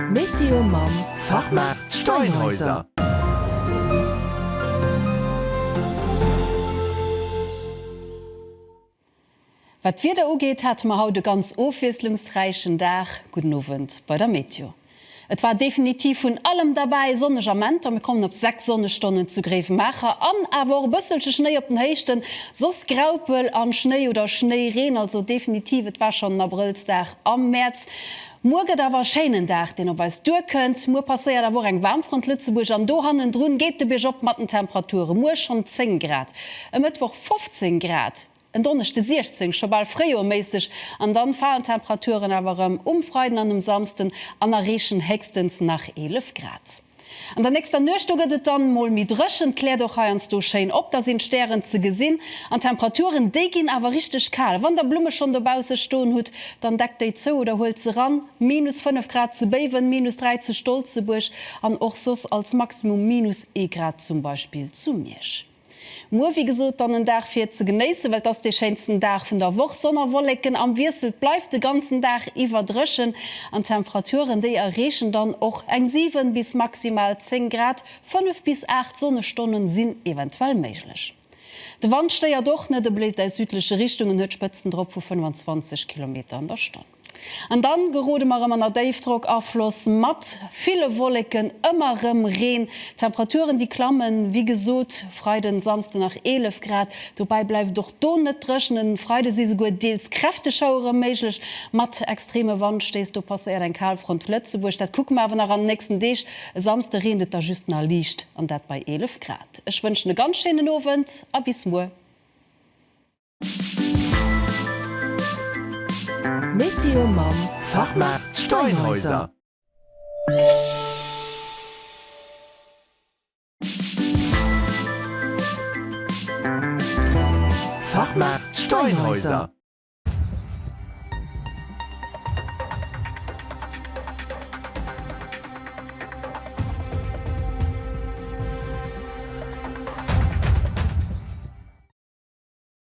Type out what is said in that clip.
Météo mam Fachmaart Steinhäuser. Wat d'Wieder ugeet, hate mer haut e ganz ofwiesslungsräichen Dag. Gudden Owend bei der Météo. Et war definitiv vun allem derbäi, sonneg Amenter, mir kommen op 6 Sonnestonnen zu Gréiwemaacher, an awer och e bësselche Schnéi op den Héichten, soss Graupel an Schnéi oder Schnéireen, also definitiv et war schonn en Abrëllsdag am Mäerz. Muer gëtt awer e schéinen Dag deen op eis duerkënnt, muer passéiert awer och eng Waarmfront Lëtzebuerg an do hannendrun geet de Bierg op mat den Temperature, muer schonn 10 Grad, e Mëttwoch 15 Grad. En Donneschde 16, scho bal fréijoerméisseg, an dann falen d'Temperaturen awer erëm um Freiden an um Samsden an erreechen héchstens nach 11 Grad. An der nächster Nuecht do gëtt et dann mol méi dréchen, et kläert och heiansdo schéin op, da sinn d'Stären ze gesinn an d'Temperaturen déi ginn awer richteg kal. Wann der Blumme schonn dobausse stoen hutt, dann deckt déi zou oder huelt se eran. Minus 5 Grad zu Béiwen, minus 3 zu Stolzebuerg an och soss als Maximum minus ee Grad zum Beispill zu Miersch. Muer wéi gesot dann en Dag fir ze genéissen, well et ass dee schéinsten Dag vun der Woch. Sonn a Wolleken am Wiessel, et bleift de ganzen Dag iwwer dréchen an d'Temperaturen déi erreechen dann och eng 7 bis maximal 10 Grad. 5 bis 8 Sonnestonnen sinn eventuell méiglech. De Wand stéiert och net, e bléist aus südleche Richtungen, huet Spëtzen drop vu 25 Kilometer an der Stonn. An dann gerode mer erëm an der Déifdrockafloss mat ville Wolleken, ëmmer erëm Reen. D'Temperaturen déi klammen, wéi gesot, Freiden, Samsden nach 11 Grad. Dobäi bleift et och do net dréchen. E Freide si souguer deels kräfteg Schauere méiglech mat extreme Wandstéiss. Do passéiert eng Kalfront Lëtzebuerg, dat kucke mer awer nach an den nächsten Deeg. E Samsde reent et da just nach liicht, an dat bei 11 Grad. Ech wënschen e ganz schéinen Owend a bis muer. Météo mam Fachmaart Steinhäuser. Fachmaart Steinhäuser.